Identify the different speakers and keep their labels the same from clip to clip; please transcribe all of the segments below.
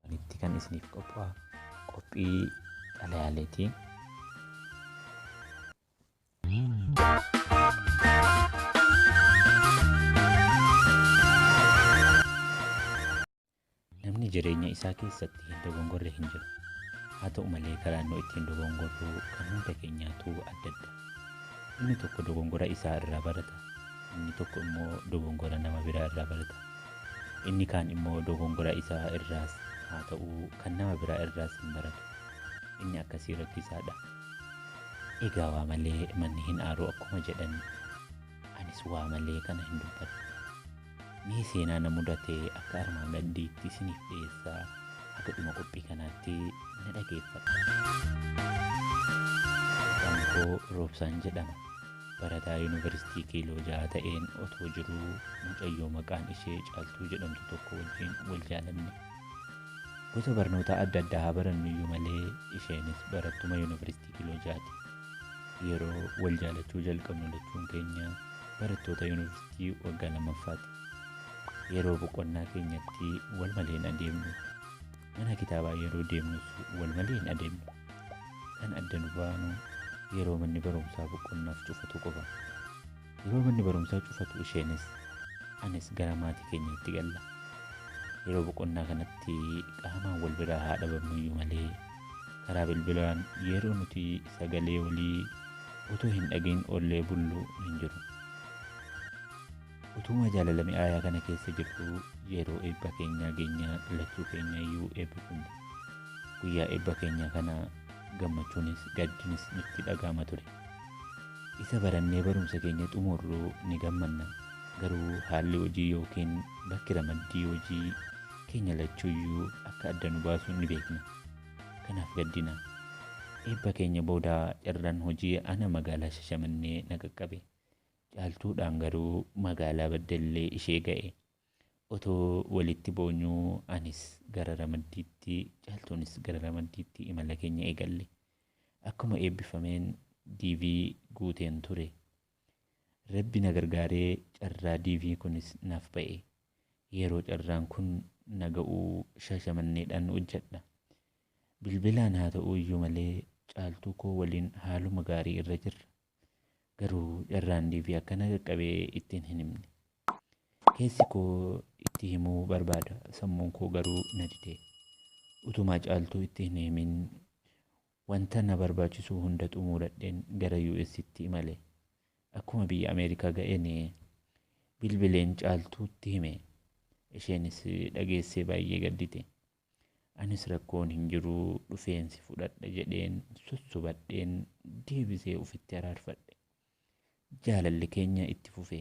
Speaker 1: Wanitti kan isiniif qophaa'u qophii xalayaaleeti. Namni jireenya isaa keessatti hin dogongorre hin jiru. Haa ta'u malee karaan nu ittiin dogongorru kan hunda keenyaatu addadda. Inni tokko dogongora isaa irraa barata, inni tokko immoo dogongora nama biraa irraa barata. Inni kaan immoo dogongora isa irraas haa ta'uu kan nama biraa irraas hin baratu. Inni akkasii rakkisaadha. Egaa waa malee manni hin aaru akkuma jedhan anis waa malee kana hin dubbadhu. Mee seenaa na mudate akka armaan gaddiitti isiniif dhiyeessaa haga dhuma qophii kanaatti na dhageeffadha. Maqaan koo Roobsaan jedhama. Barataa Yuunivarsiitii Kiiloo Jaha ta'een otoo jiruu mucayyoo maqaan ishee Caaltuu jedhamtu tokko wajjin wal jaalanne. Gosa barnootaa adda addaa haa barannuyyuu malee isheenis barattuma Yuunivarsiitii Kiiloo Jahaati. Yeroo wal jaalachuu jalqabnu lachuun keenya barattoota yuunivarsiitii waggaa lammaffaati. Yeroo boqonnaa keenyatti wal malee hin adeemnu. Mana kitaabaa yeroo deemnus walmalee hin adeemnu. Kan adda nu baanu yeroo manni barumsaa boqonnaaf cufatu qofa. Yeroo manni barumsaa cufatu isheenis anis gara maatii keenyaatti galla. Yeroo boqonnaa kanatti qaamaan wal biraa haa dhabamnuyyuu malee karaa bilbilaan yeroo nuti sagalee walii utuu hin dhagahin oollee bullu hin jiru. Utuuma jaalala mi'aayaa kana keessa jirtuu yeroo eebba keenyaa geenyaa lachuu keenya iyyuu eebbifamne. Guyyaa eebba keenyaa kana gammachuunis gaddinis nutti dhaga'ama ture. Isa barannee barumsa keenya xumurru ni gammanna. Garuu haalli hojii yookiin bakki ramaddii hojii keenya lachuu iyyuu akka adda nu baasu ni beekna. Kanaaf gaddina. Eebba keenya booda carraan hojii ana magaalaa Shashamannee na qaqqabe. Caaltuudhaan garuu magaalaa Baddellee ishee ga'e. Otoo walitti boonyuu anis gara Ramaddiitti, Caaltuunis gara Ramaddiitti imala keenya eegalle. Akkuma eebbifameen DV guuteen ture. Rabbi na gargaaree carraa DV kunis naaf ba'e. Yeroo carraan kun na ga'u Shaashamanneedhaan hojjedha. Bilbilaan haa ta'uyyuu malee Caaltuukoo waliin haaluma gaarii irra jirra. Garuu carraan DV akka na qaqqabe ittiin hin himne. Keessi koo itti himuu barbaada sammuun koo garuu na dide. Utumaa caaltuu itti hin himin wanta na barbaachisu hunda xumuuradheen gara UStti imale. Akkuma biyya Ameerikaa ga'een bilbileen caaltuutti hime. Isheenis dhageessee baay'ee gaddite. Anis rakkoon hin jiru dhufeen si fudhadha jedheen sossobadheen deebisee ufitti araarfadhe. Jaalalli keenya itti fufe.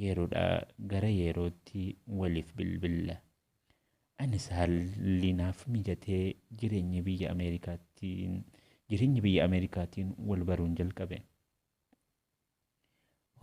Speaker 1: Yeroodhaa gara yerootti waliif bilbilla. Anis haalli naaf mijatee jireenya biyya Ameerikaatiin jireenya biyya Ameerikaatiin wal baruun jalqabe.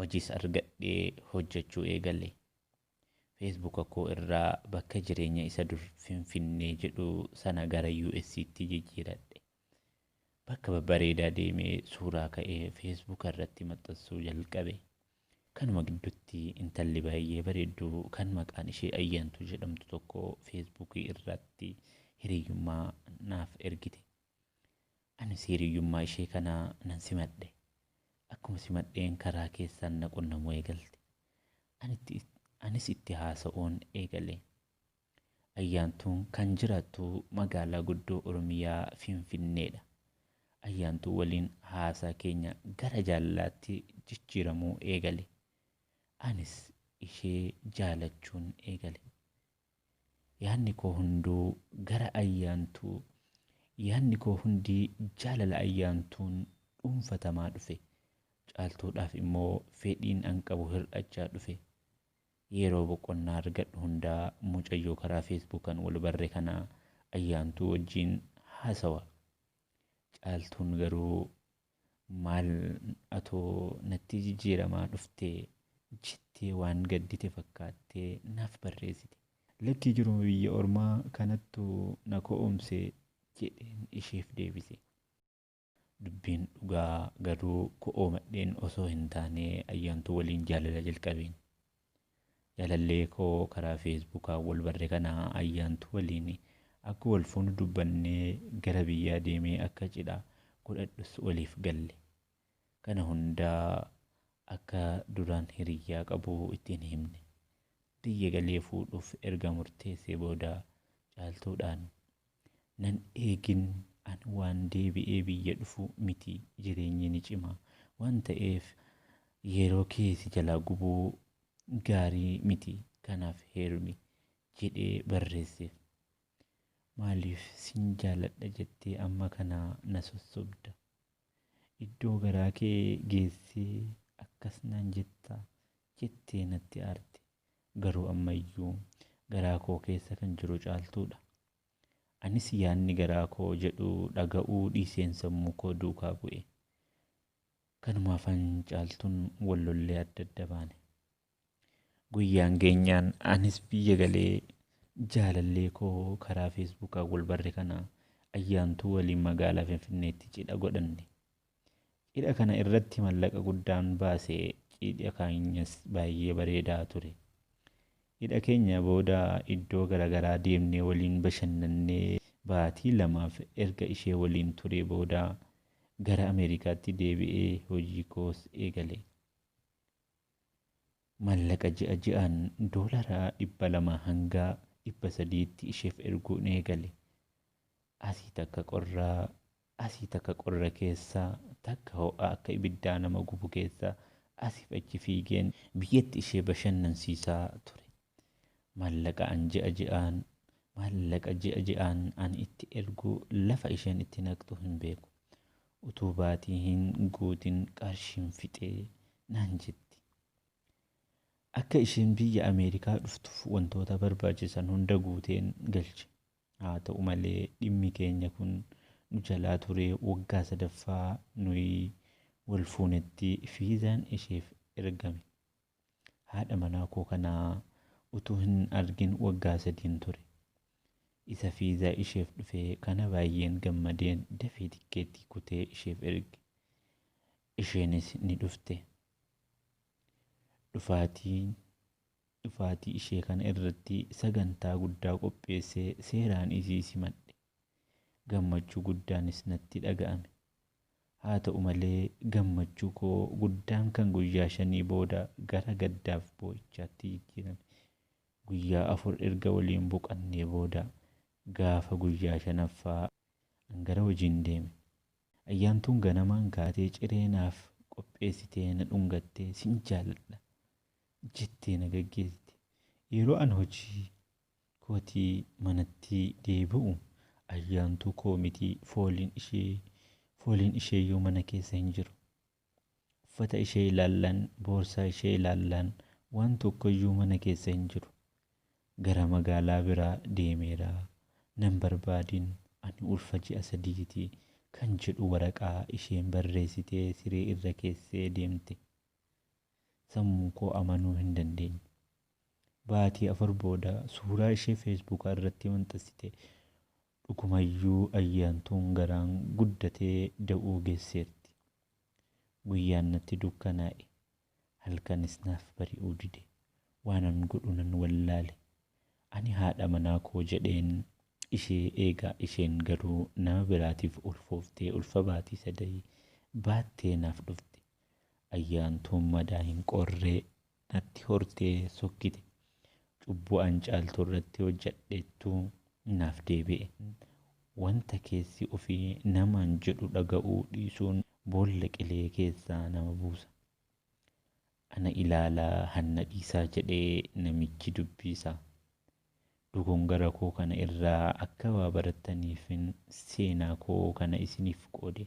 Speaker 1: Hojiis argadhee hojjechuu eegale. Feesbuuka koo irraa bakka jireenya isa dur Finfinnee jedhu sana gara US tti jijjiiradhe. Bakka babbareedaa deemee suuraa ka'ee Feesbuuka irratti maxxansuu jalqabe. Kanuma gidduutti intalli baay'ee bareeddu kan maqaan ishee Ayyaantuu jedhamtu tokko Feesbuukii irratti hiriyyummaa naaf ergite. Anis hiriyyummaa ishee kana nan simadhe. Akkuma simadheen karaa keessaan na qunnamuu eegalte. Anitti, anis itti haasa'uun eegale. Ayyaantuun kan jiraattu magaalaa guddoo Oromiyaa Finfinneedha. Ayyaantuu waliin haasaa keenya gara jaalalaatti jijjiiramuu eegale. Anis ishee jaalachuun eegale. Yaadni koo hunduu gara Ayyaantuu Yaadni koo hundi jaalala Ayyaantuun dhuunfatamaa dhufe. Caaltuudhaaf immoo fedhiin an qabu hir'achaa dhufe. Yeroo boqonnaa argadhu hunda mucayyoo karaa Feesbuukan wal barre kana Ayyaantuu wajjin haasawa. Caaltuun garuu Maal atoo nattii jijjiiramaa dhuftee jettee waan gaddite fakkaattee naaf barreessite. Lakkii jiruma biyya ormaa kanattu na ko'oomse jedheen isheef deebise. Dubbiin dhugaa garuu ko'oomadheen osoo hin taane Ayyaantuu waliin jaalala jalqabeen. Jaalallee koo karaa feesbuukaa wal barre kana Ayyaantuu waliin akka wal fuunu dubbannee gara biyyaa deemee akka cidha godhadhus waliif galle. Kana hundaa akka duraan hiriyyaa qabu itti hin himne. Biyya galee fuudhuuf erga murteessee booda Caaltuudhaan. Nan eegin an waan deebi'ee biyya dhufu miti jireenyi ni cima waan ta'eef yeroo kee si jalaa gubuu gaarii miti kanaaf heerumi jedhee barreesseef. Maaliif sin jaaladha jettee amma kana na sossobda? Iddoo garaa kee geessee akkas naan jetta? jettee natti aarte. Garuu amma iyyuu garaa koo keessa kan jiru Caaltuu dha. Anis yaadni garaa koo jedhu dhaga'uu dhiiseen sammuu koo duukaa bu'e. Kanumaafan Caaltuun wal lollee adda adda baane. Guyyaan geenyaan anis biyya galee jaalallee koo karaa feesbuukaan wal barre kana Ayyaantuu waliin magaalaa Finfinneetti cidha godhanne. Cidha kana irratti mallaqa guddaan baase cidha keenyas baay'ee bareedaa ture. Cidha keenya booda iddoo garagaraa deemnee waliin bashannannee baatii lamaaf erga ishee waliin turee booda gara Ameerikaatti deebi'ee hojii koos eegale. Mallaqa ji'a ji'aan doolara 200 hanga 300tti isheef erguun eegale. Asii takka qorraa asii takka qorra keessa, takka ho'a akka ibiddaa nama gubu keessa asiif achi fiigeen biyyatti ishee bashannansiisaa ture. Maallaqa an ji'a ji'aan, maallaqa ji'a ji'aan ani itti ergu lafa isheen itti naqxu hin beeku. Utuu baatii hin guutin qarshiin fixe naan jetti. Akka isheen biyya Ameerikaa dhuftuuf wantoota barbaachisan hunda guuteen galche. Haata'u malee dhimmi keenya kun nu jalaa ture waggaa sadaffaa nuyi wal fuunetti viizaan isheef ergame. Haadha manaa koo kana utuu hin argin waggaa sadiin ture. Isa viizaa isheef dhufe kana baay'een gammadeen dafee tikkeettii kutee isheef erge. Isheenis ni dhufte. Dhufaatiin Dhufaatii ishee kana irratti sagantaa guddaa qopheessee seeraan isii simadhe. Gammachuu guddaanis natti dhaga'ame. Haata'u malee gammachuu koo guddaan kan guyyaa shanii booda gara gaddaaf boo'ichaatti jijjiirame. Guyyaa afur erga waliin boqannee booda gaafa guyyaa shanaffaa an gara hojiin deeme. Ayyaantuun ganamaan kaatee ciree naaf qopheessitee na dhungattee sin jaaladha. jettee na gaggeessite. Yeroo an hojii kootii manatti deebi'u Ayyaantuu koo miti fooliin ishee fooliin isheeyyuu mana keessa hin jiru. Uffata ishee ilaallaan, boorsaa ishee ilaallaan waan tokkoyyuu mana keessa hin jiru. Gara magaalaa biraa deemeera. Nan barbaadin ani ulfa ji'a sadiiti kan jedhu waraqaa isheen barreessite siree irra keessee deemte. sammuu koo amanuu hin dandeenye. Baatii afur booda suuraa ishee Feesbuuka irratti maxxansite. Dhugumayyuu Ayyaantuun garaan guddatee da'uu geesseerti. Guyyaan natti dukkanaa'e. Halkanis naaf bari'uu dide. Waanan godhu nan wallaale. Ani haadha manaa koo jedheen ishee eegaa isheen garuu nama biraatiif ulfooftee ulfa baatii sadahii baattee naaf dhufte. Ayyaantuun madaa hin qorree natti hortee sokkite. Cubbuu an Caaltuu irratti hojjadheettu naaf deebi'e. Wanta keessi ofii namaan jedhu dhaga'uu dhiisuun boolla qilee keessaa nama buusa. Ana ilaalaa hanna dhiisaa jedhee namichi dubbiisa. Dogongara koo kana irraa akka waa barattaniifin seenaa koo kana isiniif qoode.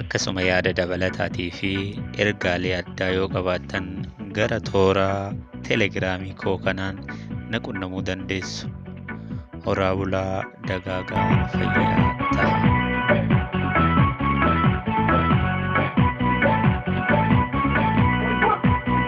Speaker 1: Akkasuma yaada dabalataatii fi ergaalee addaa yoo qabaattan gara toora telegiraamii koo kanaan na qunnamuu dandeessu. Horaa bulaa dagaagaa fayyaa ta'a.